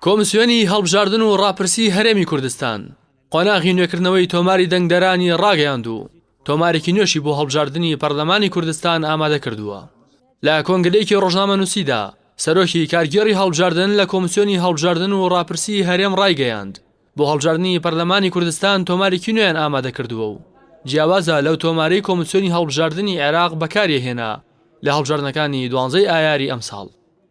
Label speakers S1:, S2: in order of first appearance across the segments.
S1: کۆمسیۆنی هەڵبژاردن و ڕاپرسی هەرێمی کوردستان قۆناغی نوێکردنەوەی تۆماری دەنگدەرانی ڕاگەیاند و تۆمارێکی نوێشی بۆ هەڵبژاردنی پەرلەمانی کوردستان ئامادە کردووە. لە کۆنگرەیەکی ڕۆژنامەنووسیدا سەرۆکی کارگێڕی هەڵبژاردن لە کۆمسیۆنی هەڵبژاردن و ڕاپرسی هەرێم ڕایگەیاند، بۆ هەڵبژاردنی پەرلەمانی کوردستان تۆمارێکی نوێیان ئامادە کردووە و جیاوازە لەو تۆمارەی کۆمسیۆنی هەڵبژاردنی عێراق بەکاریهێنا لە هەڵبژاردنەکانی دوانزەی ئایاری ئەمساڵ.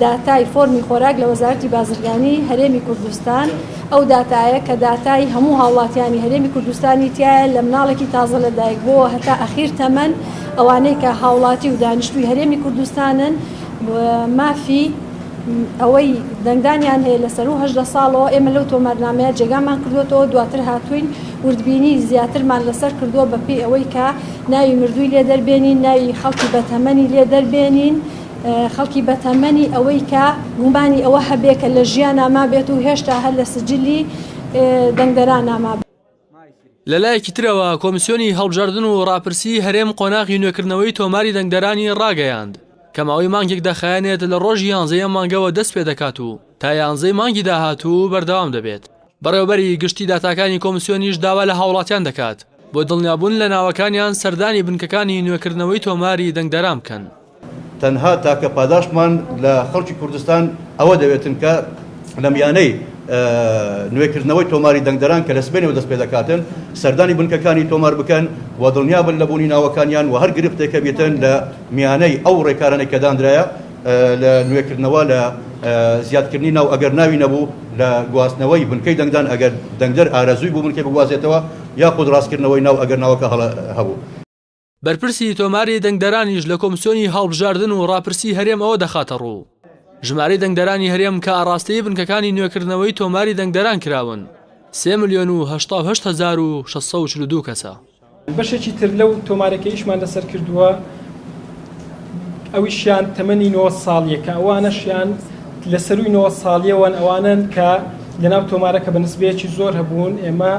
S2: داتای فۆرمی خۆراک لە وەزارەتی بازرگانی هەرێمی کوردستان ئەو داتایە کە داتای هەموو هاوڵاتیانی هەرێمی کوردستانی تایە لە مناڵێکی تازە لە دایک بۆوە هەتا ئەخیر تەمەن ئەوانەی کە هاوڵاتی و دانیشتوی هەرێمی کوردستانن مافی ئەوەی دەنگدانیان هەیە لە سەرو هەژدە ساڵەوە ئێمە لەو تۆمارنامەیە جێگامان کردوێتەوە دواتر هاتوین وردبینی زیاترمان لەسەر کردووە بە پێی ئەوەی کە ناوی مردووی لێ دەربێنین ناوی خەڵکی بەتەمەنی لێ دەربێنین خەڵکی بەتەمەنی ئەوەی کە گومانی ئەوە هەبێ کە لە ژیانا مابێت و هێشتا هەر لە سجلی دەنگدەرانا مابێت. لەلایەکی
S1: ترەوە، کۆمیسیۆنی هەڵبژاردن و ڕاپرسیی هەرێم قۆناغی نوێکردنەوەی تۆماری دەنگدەرانی ڕاگەیاند، کە ماوەی مانگێک دەخایەنێت لە ڕۆژی یانزەی ئەم مانگەوە دەستپێدەکات و تا یانزەی مانگی داهاتوو بەردەوام دەبێت. بەڕێوەبەری گشتی داتاکانی کۆمسیۆنیش داوا لە هاوڵاتیان دەکات بۆ دڵنیابوون لە ناوەکانیان سەردانی بنکەکانی نوێکردنەوەی تۆماری دەنگدەران بکەن. تەنها
S3: تاکە پاداشتمان لە خەڵکی کوردستان ئەوە دەوێتن کە لە میانەی نوێکردنەوەی تۆماری دەنگدەران کە لە سبەینەوە دەست پێدەکاتن سەردانی بنکەکانی تۆمار بکەن و دڵنیابن لە بوونی ناوەکانیان و هەر گرفتێکە بیتن لە میانەی ئەو ڕێکارانەی کە دانرایە لە نوێکردنەوە لە زیادکردنی ناو ئەگەر ناوی نەبوو لە گواستنەوەی بنکەی دەنگدان ئەگەر دەنگدەر ئارەزووی بوو بنکەی بگوازێتەوە یاخود ڕاستکردنەوەی ناو ئەگەر ناوەکە هەڵە هەبوو. بەرپرسی
S1: تۆماری دەنگدەرانیش لە کۆمسیۆنی هەڵبژاردن و ڕاپرسی هەرێم ئەوە دەخاتەڕوو، ژمارەی دەنگدەرانی هەرێم کە ئاڕاستەی بنکەکانی نوێکردنەوەی تۆماری دەنگدەران کراون سێ ملیۆن و هەشتا و هەشت هەزار و شەش سەد و چل و دوو کەسە. بەشێکی تر
S4: لەو تۆمارە کەیشمان لەسەر کردووە ئەویشیان تەمەنی نۆ ساڵیە کە ئەوانەشیان لە سەروی نۆ ساڵیەوەن ئەوانن کە لەناو تۆمارە کە بە نسبەیەکی زۆر هەبوون ئێمە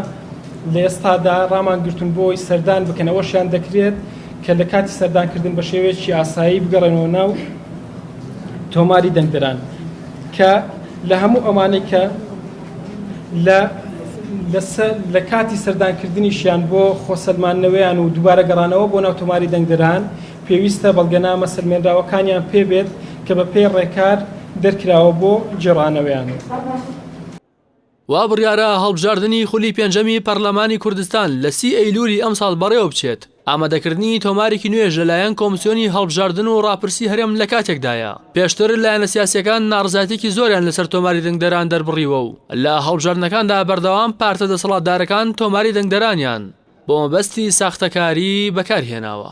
S4: لە ئێستادا ڕامان گرتون بۆی سەردان بکەن ئەوەشیان دەکرێت کە لە کاتی سەردانکردن بە شێوەیەکی ئاسایی بگەڕێنەوە ناو تۆماری دەنگدران کە لە هەموو ئەوانەی کە لە لە سە لە کاتی سەردانکردنیشیان بۆ خۆسەلماندنەوەیان و دووبارە گەڕانەوە بۆ ناو تۆماری دەنگدەران پێویستە بەڵگەنامە سەلمێنراوەکانیان پێ بێت کە بە پێی ڕێکار دەرکراوە بۆ گێڕانەوەیان.
S1: وا بڕیارە هەڵبژاردنی خولی پێنجەمی پەرلەمانی کوردستان لە سی ئەیلوولی ئەمساڵ بەڕێوەبچێت، ئامادەکردنی تۆمارێکی نوێش لەلایەن کۆمسیۆنی هەڵبژاردن و ڕاپرسی هەرێم لەکاتێکدایە، پێشتر لایەنە سیاسییەکان ناڕەزایەتیی زۆریان لەسەر تۆماری دەنگدەران دەربڕیوە و لە هەڵبژاردنەکاندا بەردەوام پارتە دەسەڵاتدارەکان تۆماری دەنگدەرانیان بۆ مەبەستی ساختەکاری بەکارهێناوە.